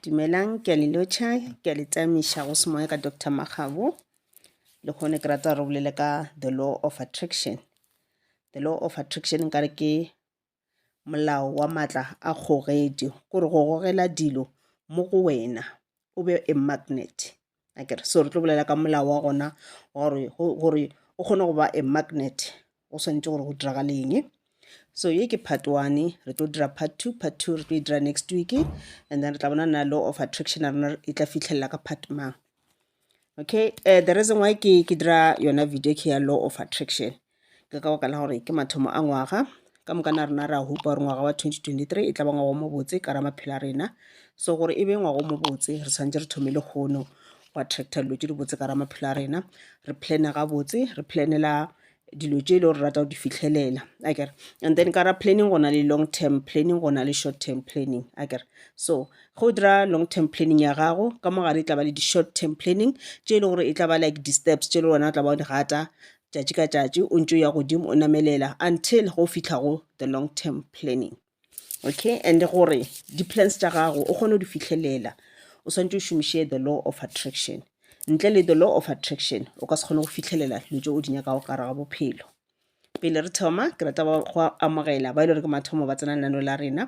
Dumelang, ke a le lotšha, ke a le tamiša go semoya ka Doctor Makgabo. Le gone ke rata re bolele ka the law of attraction. The law of attraction nkare ke molao wa maatla a kgogedi, kore go gogela dilo mo go wena o be a magnet akere so re tlo bolela ka molao wa gona gore gore o kgone go ba a magnet o swanetše gore go diragale eng so ye ke part one re tlo dira part two part two re tlo e dira next week and then re tla bona na law of attraction ya rona e tla fitlhelela ka part mang okay uh, the reason why ke ke dira yona video ke ya law of attraction ke ka baka la gore ke mathomo a ngwaga ka moka na rena re a hupa gore ngwaga wa 2023 e tla ba ngwago mo botse ka ra maphelo a rena so gore e be ngwago mo botse re tshwanetse re thome le kgono go attracta dilo tse di botse ka ra maphelo a rena re plane ga botse re planela dilo tse e le gore rata go di fitlhelela a kere and then ka ra planning go na le long term planning go na le short term planning a kere so ge o dira long term planning ya gago ka mogare e tla ba le di-short term planning tše e le gore e tla ba like di-steps tše e le gona o tla ba o di gata tšatši ka tšatši o ntse o ya godimo o namelela until go fitlha go the long term planning okay and gore di-plans tša gago o kgone go di fitlhelela o swanetse o šomiše the law of attraction ntle le the law of attraction o ka se kgone go fitlhelela dilo tse o di nyakago ka raga bophelo pele re thoma ke rata go amogela ba e le gore ke mathomo ba tsena lenano la rena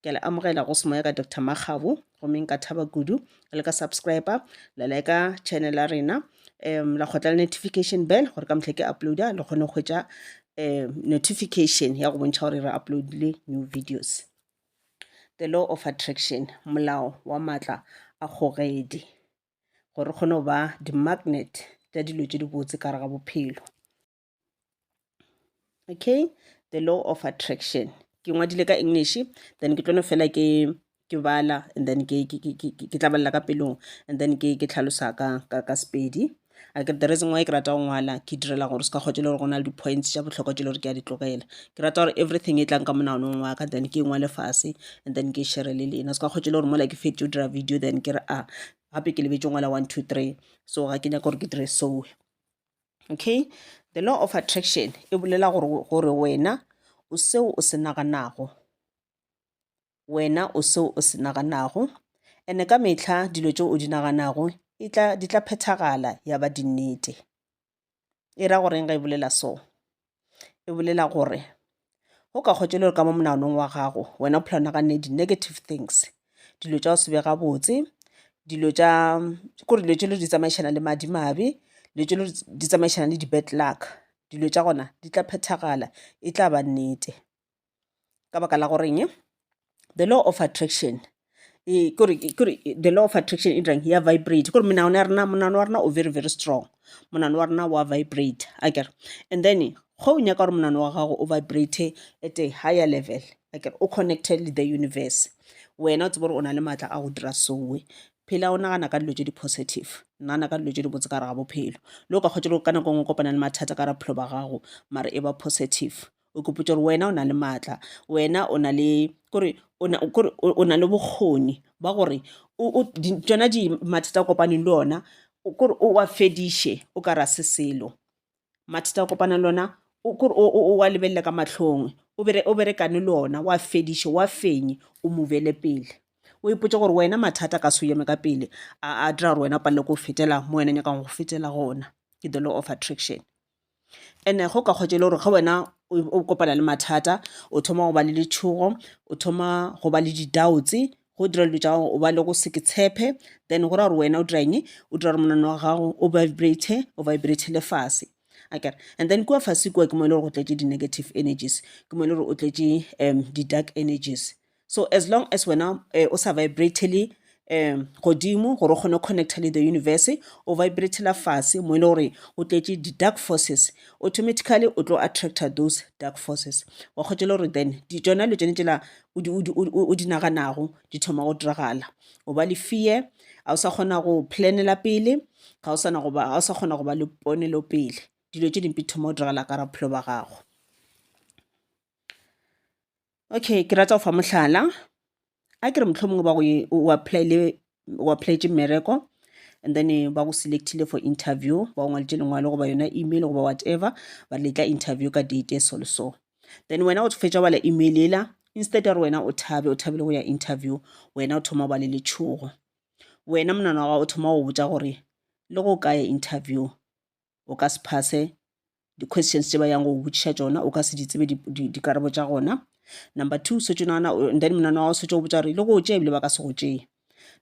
ke a le amogela go semoya ka dr makgabo gomme nka thaba kudu le ka subscriber la leka channel ya rena um la kgotla le notification bell gore ka motlha ke uploada le kgone go hwetša um notification ya go bontšha gore re uploadile new videos the law of attraction molao wa maatla a kgogedi gore re kgone go ba di-magnet tša dilo tše dibotse ka re ga bophelo okay the law of attraction ke ngwadile ka english then ke tlono fela ke ke bala and then ke ke ke ke ke tla balla ka pelong and then ke ke tlhalosa ka ka ka sepedi a ke the reason why ke rata go ngwala ke direla gore se ka kgotse le gore go na le di-points tša bohlokwa tše le gore ke a di tlogela ke rata gore everything e tlang ka monaganong wa ka then ke ngwale fase and then ke shere le lena se ka kgotse le gore mola ke fetše o dira video then ke re a ah, gape ke lebetse ngwala one two three so ga ke nyaka gore ke dire soe okay the law of attraction e bolela gore gore wena o seo o se naganago wena o seo o se naganago ene ka metlha dilo tšeo o di naganago e tla di tla phethagala ya ba dinnete e ra goreng ga e bolela so e bolela gore go ka kgotša le gore ka mo monaganong wa gago wena o phela o naganne di-negative things dilo tša go se be gabotse dilo tša kore dilo tše le di tsamaišana le madimabe dilo tše le di tsamaišana le di-bad luck dilo tša gona di tla phethagala e tla ba nnete. ka baka la goreng the law of attraction e, kore the law of attraction e dirang ya vibrate kore menagano ya rena monagano wa rena o very very strong monagano wa rena wa vibrate a kere and then go o nyaka gore monagano wa gago o vibrate at a higher level a kere o connected le the universe wena o tsebe gore o na le maatla a go dira soe phela o nagana ka dilo tse di-positive nagana ka dilo tse di botse ka re ga bophelo le o ka kgotsa ka nako ngwe kopana le mathata ka ra bophelo ba gago mare e ba positive o ikopotša gore wena o na le maatla wena o na le kore kore o na le bokgoni ba gore tšona di mathata a kopaneng le ona kore o wa fediše o ka ra se selo. Mathata a kopanang le ona kore o wa lebelele ka mahlong o berekane le ona wa fediše wa fenye o move-le pele. O ipotše gore wena mathata a ka se o eme ka pele a dira gore wena o palelwe ke go fetela mo wena nyakang go fetela gona ke the law of attraction. And-e go ka kgotša e le gore ge wena o kopana le mathata o thoma go ba le letšhogo, o thoma go ba le di-doubts go dira dilo tša gago o ba le go se ke tshepe then go ra gore wena o dira eng, o dira gore monwana wa gago o vibrate-e, o vibrate-ele fase akere. And then kua fase kua ke mo e le gore go tletše di-negative energies, ke mo e le gore o tletše di-dark energies. So as long as wena eh, o sa vibratele um godimo gore o kgone go connecta le the universe o vibratela fase mo e le gore o tletše di-dark forces automatically o tlo attracta those dark forces wa kgotse le gore then di tsona le tsone tsela o di- o di- o di- o di naganago di thoma go diragala o ba le fear ga o sa kgona go planela pele ga o sana go ba- ga o sa kgona go ba le ponelo pele dilo tše dimpe di thoma go diragala ka raphelo ba gago okay ke rata go fa mohlala a ke re mohlomongwe ba go o applyile o applyetse mmereko and then eh, ba go selectile for interview ba go ngwalitše lengwalo goba yona email goba whatever ba re letla interview ka date e so le so then wena o fetša bala email ela instead ya gore wena o thabe o thabile go ya interview wena o thoma ba le letšhogo wena monana wa gago o thoma go botsa gore le go ka ya interview o ka se phase di-questions tše ba yang go botšiša tšona o ka se di tsebe dikarabo tša gona number two setse nana and then monana wa o setse o botsa gore le go tšee ebile ba ka se go tšee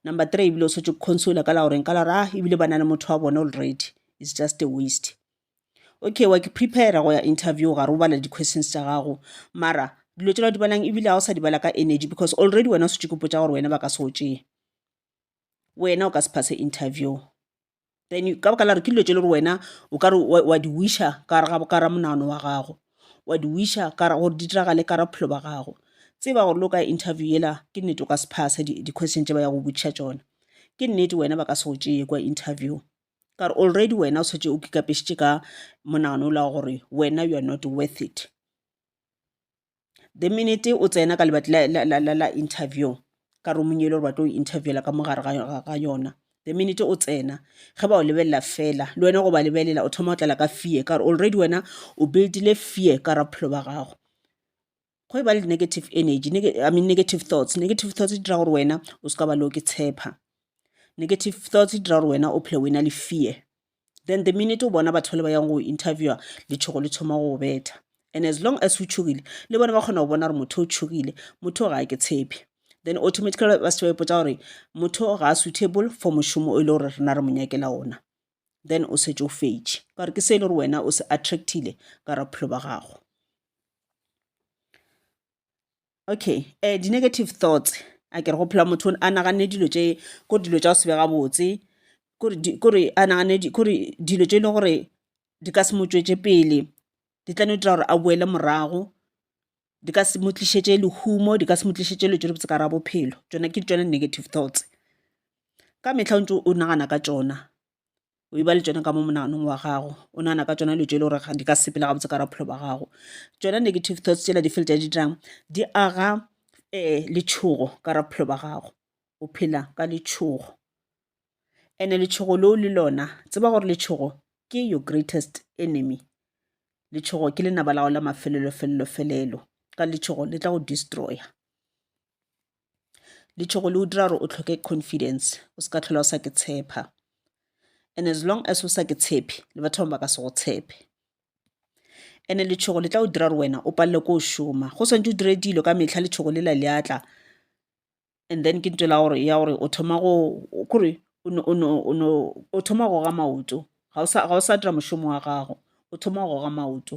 number three ebile o setse consola ka la goreng ka la gore a ah, ebile ba na le motho wa bone already it's just a waste okay wa ke prepare go ya interview gare o bala di-questions tša gago mara dilo tšela di balang ebile ga o sa di bala ka energy because already wena o setse kopotsa gore wena ba ka se o tšee wena o ka se phase interview then ka baka la gore ke dilo tše le gore wena o kare wa di wisher ka gare monagano wa gago wa di wisher gore di diragale ka gare bophelo ba gago tseba gore le o ka interview yela ke nnete o ka se phasa di question tše ba ya go botšiša tšona ke nnete wena ba ka se go tšeye kwa interview ka gore already wena o setse o kikapešitše ka monagano o la gore wena you are not worth it. The minute o tsena ka lebati la interview ka room-ong yele gore ba tlo go interviewer ka mo gare ga yona, the minute o tsena ge ba go lebelela fela le wena go ba lebelela o thoma go tlala ka fear ka gore already wena o build-ile fear ka gare ga bophelo ba gago. Go e ba le negative energy, I mean negative thoughts, negative thoughts di dira gore wena o se ka ba le go ke tshepa, negative thoughts di dira gore wena o phele o e na le fear. then the minute o bona batho ba le ba yang go interviewa letšhogo le thoma go betha and as long as o tšhogile le bone ba kgona go bona gore motho o tšhogile motho ga ke tshepe then automatically ba se ba ipotsa gore motho ga a suitable for mošomo o e le gore rena re mo nyakela ona then o setse o fetše ka gore ke se e le gore wena o se attractile ka ra bophelo ba gago okay um di-negative thoughts a kere go phela motho a naganne dilo tše kore dilo tša go se be gabotse kore a naganne kore dilo tše e le gore di ka se mo tšwetše pele di tla no dira gore a boele morago di ka se mo tlišetše lehumo di ka se mo tlišetše dilo tše dibotse ka gare ga bophelo tšona ke tšona negative thoughts ka mehla o ntse o nagana ka tšona. o e ba le tšona ka mo monaganong wa gago o nagana ka tšona dilo tše e le gore di ka sepela gabotse ka bophelo ba gago tšona negative thoughts tsela di feletša di dirang di aga um letšhogo ka ra bophelo ba gago o phela ka letšhogo and-e letšhogo leo le lona tseba gore letšhogo ke your greatest enemy letšhogo ke lenaba la go la mafelelo felelo felelo ka letšhogo le tla go destroyer. letshogo le o dira gore o tlhoke confidence o se ka tlhola o sa ke tshepa and as long as o sa ke tshepe le batho bangwe ba ka se go tshepe ene letshogo le tla o dira gore wena o palele ko o šoma go swantse o dire dilo ka metlha letshogo le la le atla and then ke ntse la gore ya gore o thoma go kore o thoma go ga maoto ga o sa dira mošomo wa gago o thoma go ga maoto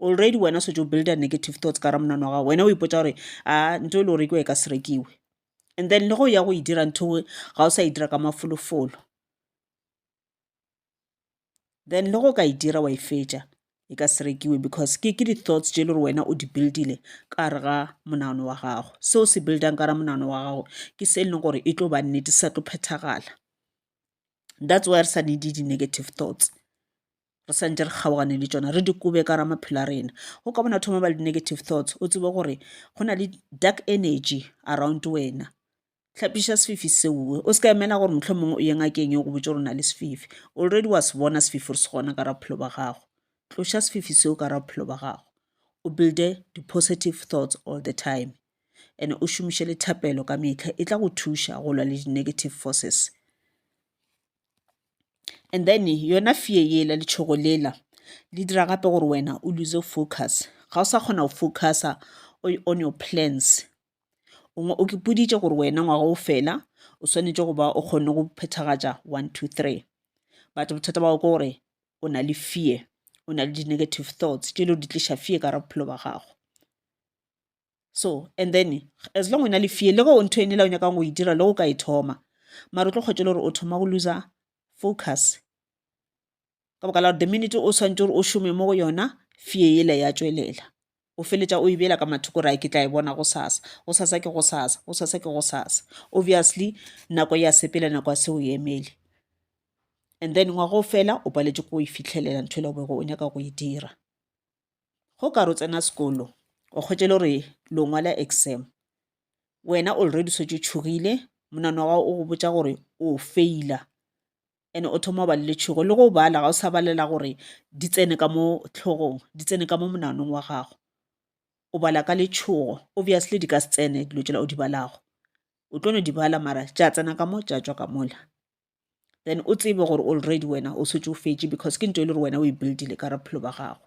already wena setse o builda negative thoughts ka ra monana wa gago wena o ipotsa gore a nto e le go rekiwa e ka se rekiwe and then le go ya go e dira ntho e ga o sa e dira ka mafolofolo then le go ka e dira wa e fetša e ka se rekiwe because ke ke di-thoughts tše e le gore wena o di buildile ka re ga monano wa gago seo se buildang ka ra monano wa gago ke se e leng gore e tlo ba nnete sa tlo phethagala that's why re sa needi di-negative thoughts re sa ntše re kgaogane le tšona re di kobe ka ra maphelo a rena go ka bona thoma ba le negative thoughts o tsebe gore go na le dark energy around wena tlhapiša sefifi seoe o se ka emela gore motlho mongwe o ye ngakeng yo go botse gore na le sefifi already wa se bona sefifi gore se gona ka ra bophelo ba gago tloša sefifi seo ka ra bophelo ba gago o builde di-positive thoughts all the time and o šomiše le thapelo ka metlha e tla go thuša go lwa le di-negative forces and then yona fear yela letshogo lela le dira gape gore wena o loose-e focus ga o sa kgona go focuser on your plans o kipoditše gore wena ngwaga o fela o swanetše go ba o kgonne go phethagatša one two three but bothata ba gago ke gore o na le fear o na le di-negative thoughts tše e le gore di tliša fear ka gare ga bophelo ba gago. so and then as long o na le fear le ge o ntho ene la o nyakang go e dira le go ka e thoma mara o tlo kgwetša le gore o thoma go loser focus ka baka la gore the minute o swantse gore o šome mo go yona fear ele ya tšwelela o feletša o e bela ka mathoko ra ke tla e bona go sasa go sasa ke go sasa go sasa ke go sasa obviously nako ya sepela nako ya se o emele and then ngwago fela o paletše ko e fitlhelela ntho e le go o nyaka go e dira go ka re o tsena sekolo o kgwetše e le gore lo ngwala exam wena already o šetše o tšhogile monagano wa gago o go botša gore o feila and o thoma go ba le letšhogo le go bala ga o sa balela gore di tsene ka mo hlogong di tsene ka mo monaganong wa gago o bala ka letšhogo obviously di ka se tsene dilo tšela o di balago o tlo no di bala mara tša tsena ka mo tša tšwa ka mola. then o tsebe gore already wena o setse o fetše because ke nto e le gore wena o e buildile ka bophelo ba gago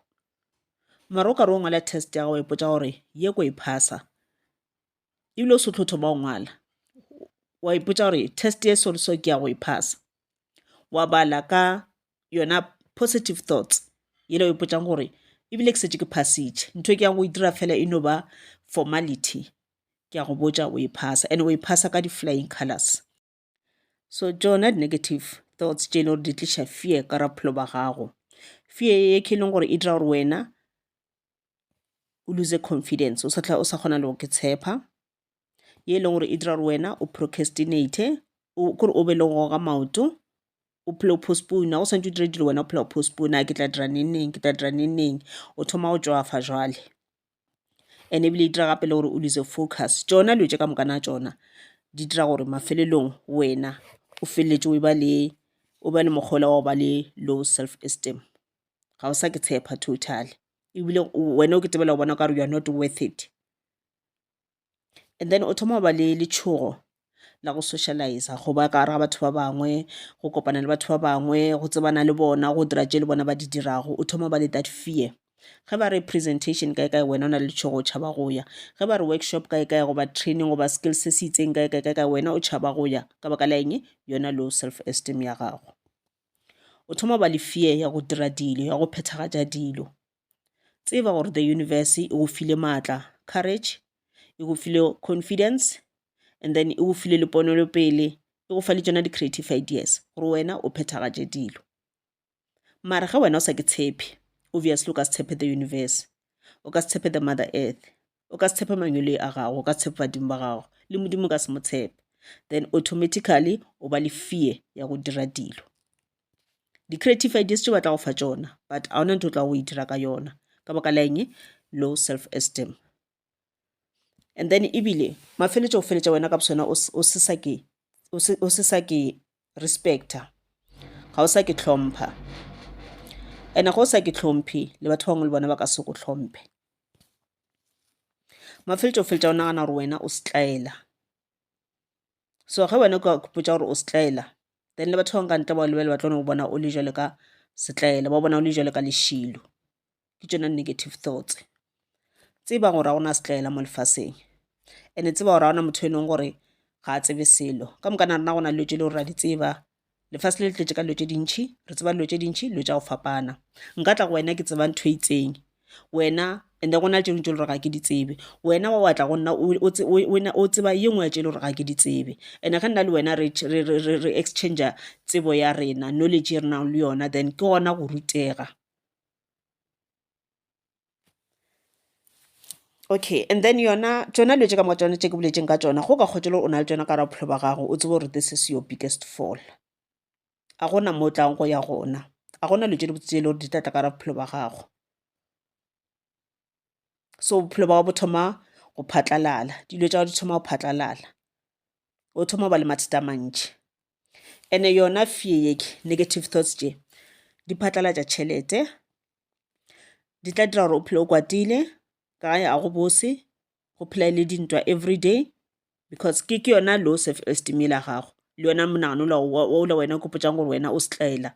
mara o ka re o ngwala test ya gago ipotsa gore ye ko e phasa ebile o se tlo thoma o ngwala wa ipotsa gore test e sore so ke ya go e phasa wa bala ka yona positive thoughts yele o ipotsang gore ebile ke setse ke phasitše ntho e ke yang go e dira fela e no ba formality ke ya go botsa o e phasa and o e phasa ka di-flying colors so tšona di-negative thoughts tše e le gore di tliša fear ka ra bophelo ba gago fear ye ke e leng gore e dira gore wena o lose confidence o sa tla o sa kgona le go ke tshepa ye e leng gore e dira gore wena o procrastinate kore o be le go goga maoto o phele o postpone o swantse o dire dilo wena o phela o postpone a ke tla dira neng neng ke tla dira neng neng o thoma go tšwafa jwale and ebile e dira gape le gore o lose focus tšona dilo tše ka moka na tšona di dira gore mafelelong wena o feleletse o ba le o ba le mokgole wa go ba le low self esteem ga o sa ke tshepa totaly ebile wena o ke tsebela go bona o ka re you are not worth it. and then o thoma go ba le letšhogo la go socializer go ba ka gare ga batho ba bangwe go kopana le batho ba bangwe go tsebana le bona go dira tše le bona ba di dirago o thoma go ba le that fear ge ba re presentation kae kae wena o na le letšhogo o tšhaba go ya ge ba re workshop kae kae goba training goba skills se se itseng kae kae kae kae wena o tšhaba go ya ka baka la eng yona low self esteem ya gago o thoma go ba le fear ya go dira dilo ya go phethagatša dilo tseba gore the universe e go file maatla courage e go file confidence and then e go file le ponelopele e go fa le tsona di-creative ideas gore wena o phethagatše dilo mara ge wena o sa ke tshepe obviously o ka se tshepe the universe o ka se tshepe the mother earth o ka se tshepe mangweloi a gago o ka tshepe badimo ba gago le modimo ka se mo tshepe then automatically o ba le fear ya go dira dilo di-creative ideas tse ba tla go fa tsona but a ona ntho o tla go e dira ka yona ka baka la eng low self esteem and then ebile mafeletša go feletša wena ka bosona o se sa ke respecta ga o sa ke hlompha and ga o sa ke hlomphe le batho bangwe le bona ba ka se go hlomphe mafeletša o feletša o nagana gore wena o setlaela so ge wena ka kupotsa gore o setlaela then le batho bangwe ka ntle ba lebele ba tlo no bona o le jale ka setlaela ba bona o le jale ka lešilo ke tšona negative thoughts tseba gore ga gona setlaela mo lefaseng ene tseba gore ga gona motho e leng gore ga a tsebe selo ka moka na rena gona dilo tse le gore ra di tseba lefase le le tletse ka dilo tse dintšhi re tseba dilo tse dintšhi dilo tsa go fapana nka tla go wena ke tseba ntho e itseng wena ande go na le tse dingwe tse le gore ga ke di tsebe wena wa watla go nna o tseba ye nngwe ya tse le gore ga ke di tsebe and-e ge nna le wena re exchanger tsebo ya rena knowledge e re nang le yona then ke gona go rutega okay and then yona tšona dilo tše ka moka tšona tše ke boletseng ka tšona go ka kgotšwa le o na le tšona ka gare bophelo ba gago o tsebe gore this is your biggest fall a gona mo tlang go ya gona a gona dilo tše di botse tse e le gore di tla tla ka gare bophelo ba gago so bophelo ba bo thoma go phatlalala dilo tša go di thoma go phatlalala o thoma go ba le mathata mantši ene yona fear yeke negative thoughts tše di phatlalatša tšhelete di tla dira gore o phele o kwatile ka ga ya go bose go phela e le dintwa every day because ke ke yona low self esteem yela gago le yona monagano ola wena o ikgopotšang gore wena o setlaela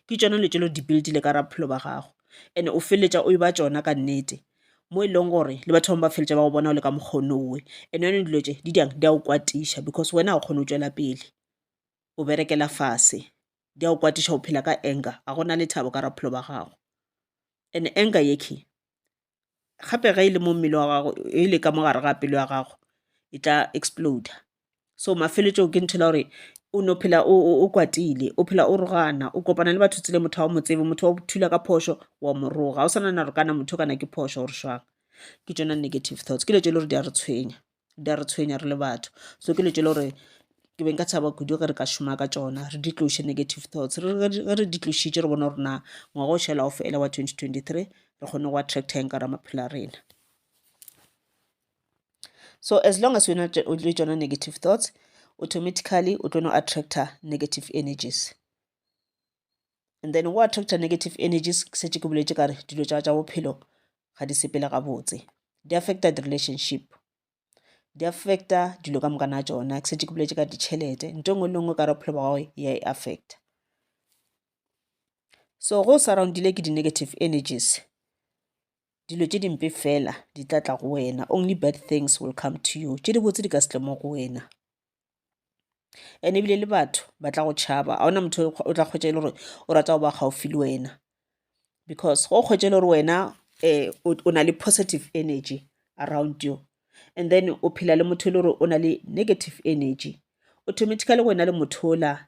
ke tšona dilo tše le di build-ile ka gare ga bophelo ba gago and o feleletša o e ba tšona ka nnete mo e leng gore le batho bangwe ba feleletša ba go bona o le ka mokgono owe and yone dilo tše di diang di a o kwatiša because wena ga o kgone o tšwela pele o berekela fase di a o kwatiša o phela ka anger ga gona le thabo ka gare ga bophelo ba gago and anger yeke gape ge e le mo mmele wa gago e le ka mo gare ga pelo ya gago e tla explode so mafeletšong ke ntho e le gore o no phela o kwatile o phela o rogana o kopana le batho tsele motho wa mo tsebe motho wa thula ka phošo wa moroga o swanana gore kana motho kana ke phošo gore swang ke tsona negative thoughts ke le tse le gore di a re tshwenya di a re tshwenya re le batho so ke dilo tse e le gore ke be nka thaba kudu ge re ka šoma ka tšona re di tloše negative thoughts ge re di tlositše re bone gore na ngwaga o šala o fela wa twenty twenty three re kgone go attracta eng ka ra maphelo a rena so as long as wena o le tšona negative thoughts automatically o tlo no attracta negative energies and then o attracta negative energies ke setse ke boletse kare dilo tsa tsa bophelo ga di sepele gabotse di affecta di-relationship di affecta dilo ka moka na tsona ke setse ke boletse ka ditšhelete nto e nngwe le nngwe ka re bophelo ba gagwe ya e affecta so go surroundile ke di-negative energies dilo tse dimpe fela di tla tla go wena only bad things will come to you tše di botse di ka se tle mo go wena and ebile le batho ba tla go tšhaba ga ona motho o tla kgwetša e le gore o rata go ba gaufi le wena because go kgwetša e le gore wena um o na le positive energy around you and then o phela le motho e le gore o na le negative energy automatically wena le motho ola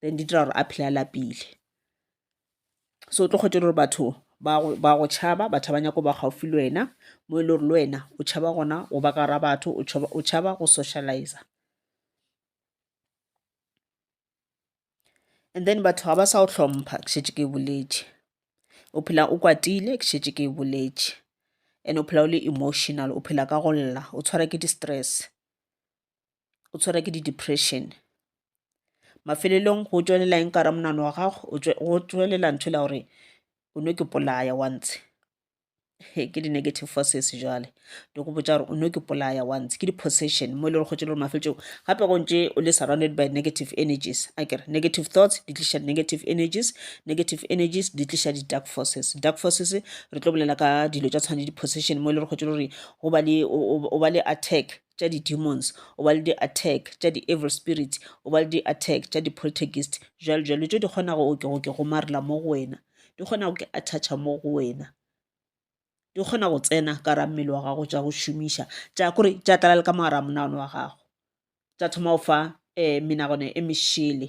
then di dira gore a phele a lapile so o tlo kgwetše gore batho ba go tšhaba batho ba nyako ba gaufi le wena mo e le gore le wena o tšhaba gona go ba ka ra batho o tšhaba go socializa and then batho ga ba sa o hlompha ke šetše ke boletše o phela o kwatile ke šetše ke boletše and o phela o le emotional o phela ka go lla o tshwara ke di-stress o tshwere ke di-depression. Mafelelong go tšwelela eng ka gare ga monagano wa gago? Go tšwelela ntho e le ya gore o no ke polaya wa ntshe. Ke di-negative forces jwale di go botša gore o no ke polaya wa ntshe. Ke di-possession mo e leng gore kgotse e le gore mafelelong gape go ntše o le surrounded by negative energies. Akere negative thoughts di tliša negative energies, negative energies di tliša di-dark forces. Dark forces re tlo bolela ka dilo tša tshwana le di-possession mo e leng gore kgotse e le gore go ba le, o ba le attack tša di demons o ba le di attack tša di evil spirits o ba le di attack tša di poltergeist jalo jalo tšo di kgona go oke goke go marela mo go wena di kgona go ke attacha mo go wena di kgona go tsena ka ra mmele wa gago tša go šomiša tša kore tša tlala le ka mogara monagano wa gago tša thoma go fa um menagano e mešele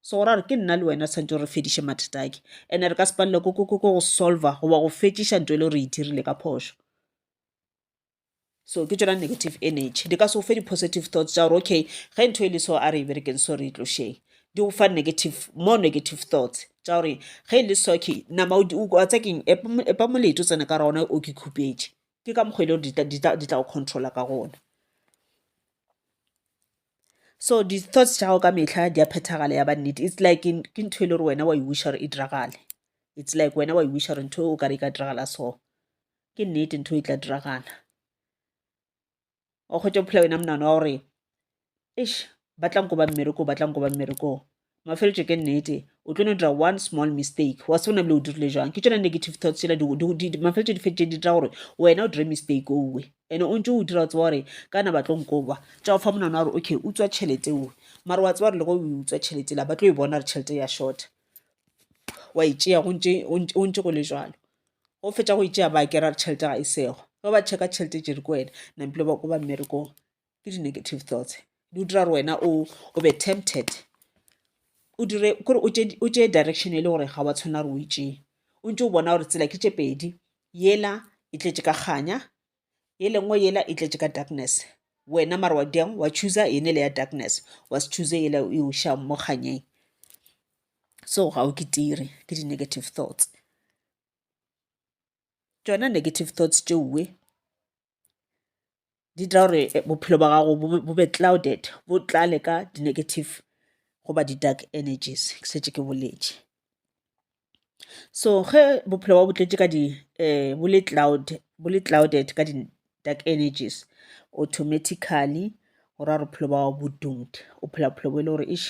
Segoro a re, Ke nna le wena tshwanetse re fediše mathata ake. Ene re ka se palelwe ko, ko, ko, ko go solver goba go fetšiša nto ele re e dirile ka phošo. So ke tšona negative energy. Di ka se go fe di-positive thoughts tša gore okay ge ntho ele so a re e berekeng so re e tlošeng. Di go fa negative, more negative thoughts tša gore ge ele so okay nama wa tseba keng epa molete o tsene ka gare gona o ke khupetše. Ke ka mokgo ele gore di tla go controller ka gona. so di thoughts tša gago ka mehla di a phethagala ya ba nnete it's like ke ntho e le gore wena wa e wisha gore e diragale it's like wena wa e wisha gore ntho e o ka re e ka diragala so ke nnete ntho e tla diragala o kgwetsa bophela wena monano wa gore ish ba tla nko ba mmereko ba tla nko ba mmereko mafeletšo ke nnete o tlo no dira one small mistake wa se bona bile o dirile jang ke tsona negative thoughts tsela mafeletšo di fetše di dira gore wena o dire mistake owe ene o ntse o dira o tseba gore ka na ba tlo nkoba tša o fa monana gore okay o tswa tšhelete owe mare wa tseba gore le go o tswa tšhelete la ba tlo e bona gore tšhelete ya short wa e tšea go ntse go le jalo go fetša go e tšea ba kera gore tšhelete ga e sego ge ba checka tšhelete jere ko wena nampile ba ko ba mmerekong ke di-negative thoughts di o dira gore wena o o be tempted o dire kore o tšee direction e le gore ga wa tshwana gore o e tšee o ntse o bona gore tsela ke tše pedi yela e tletše ka kganya e lengwe yela e tletše ka darkness wena mara wa diang wa chooser ene le ya darkness wa se choose yela e o šang mo kganyeng so ga o ke tire ke di-negative thoughts tšona negative thoughts tšeoe di dira gore bophelo bja gago bo be clouded bo tlale ka di negative goba di dark energies ke šetše ke boletše so ge bophelo ba bo tletše ka di um bo le cloud bo le clouded ka di dark energies automatically go ra gore bophelo ba gago bo doomed o phela bophelo bo e le gore eish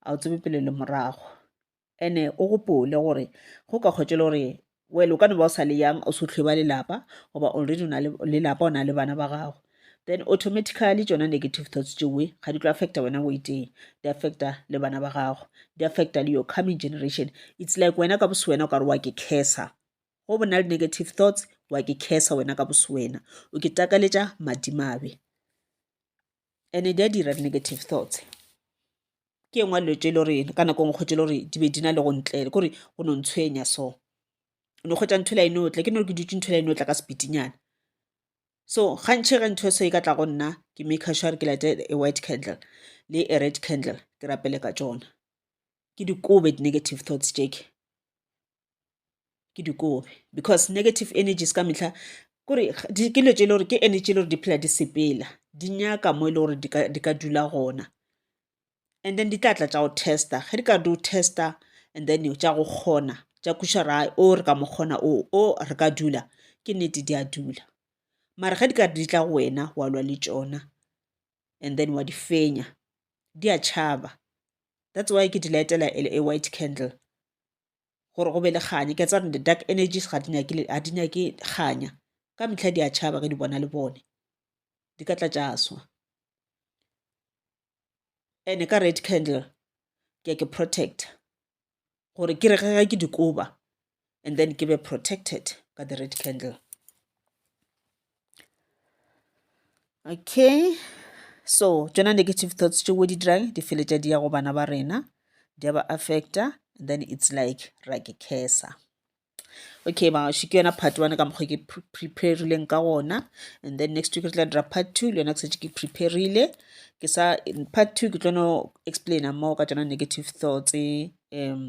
ga o tsebe pele le morago. ene o gopole gore go ka kgwetšela gore well o ka no ba o sa le yang o se tlhwe ba lelapa goba already o na le lelapa o na le bana ba gago then automatically tšona negative thoughts tšewe ga di tlo affecta wena o itee di affecta le bana ba gago di affecta le your coming generation it's like wena ka bose wena o ka re wa ke cursa go bona le negative thoughts wa ke cursa wena ka bose wena o ke takaletša madimabe ene di a dira di-negative thoughts ke engwe dilo tse e le gore ka nako ngwe kgwetsi e le gore di be di na le go ntle kore go no ntshwenya so o no kgwetsa ntho e le a e no tla ke no ke dutse ntho e le a e no tla ka sepitinyana so ga ntšhe ga ntho e so e ka tla go nna ke make sure gore ke late a white candle le a red candle ke rapele ka tsona ke dikobe di-negative thoughts tše ke ke di kobe because negative energies ka mehla kore ke dilo tse e le gore ke energy e le gore di phela di sepela di nyaka mo e le gore di ka dula gona and then di tla tla tša go testa ge di ka di o testa and then tša go kgona tša kweša ra o re ka mo kgona o o re ka dula ke nnete di a dula mara ge di ka di tla go wena wa lwa le tšona and then wa di fenya di a tšhaba that's why ke di lightela a white candle gore go be le kganya ke tseba di-dark energies ga di nyake kganya ka metlha di a tšhaba ge di bona le bone di ka tla tša swa ene ka red candle ke ke protect gore ke re ge ke dikoba and then ke be protected ka the red candle okay so tšona negative thoughts tšeo di dirang di feletša di ya go bana ba rena di a ba affecta then it's like ra ke cursa okay maoši ke yona part one ka mokgwa ke preparileng ka gona and then next week re tla dira part two le yona ke setse ke preparile ke sa part two ke tlono explaina more ka tšona negative thoughts um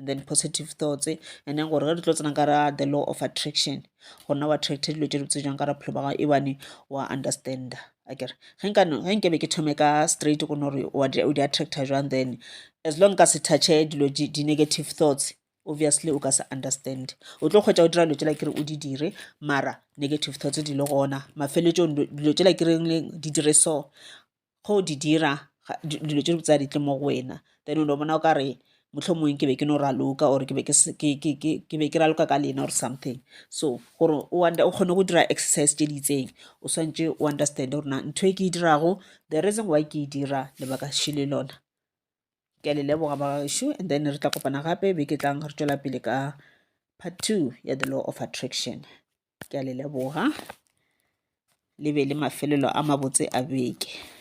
and then positive thoughts and then gore ge di tlo tsena ka ra the law of attraction go nna wa attracta dilo tse di botse jang ka ra bophelo ba gago ebane wa understanda akere ge nke be ke thome ka straight go no gore o di attracta jwang then as long ka se touche dilo di-negative thoughts obviously o ka se understand o tlo kgwetsa o dira dilo tsela kere o di dire mara negative thoughts di le gona mafeleletsong dilo tsela kereng di dire so ge o di dira dilo tše dibotse ga di tle mo go wena then o no bona o ka re mohlomongwe ke be ke no raloka or ke be ke raloka ka lena or something so gore o kgone go dira exercise tše di itseng o swantše o understand gore na ntho e ke e dirago the reason why ke e dira lebaka še le lona ke a le leboga bagaešo and then re tla kopana gape be ke tlang re tšwela pele ka part two ya the law of attraction ke a le leboga le be le mafelelo a mabotse a beke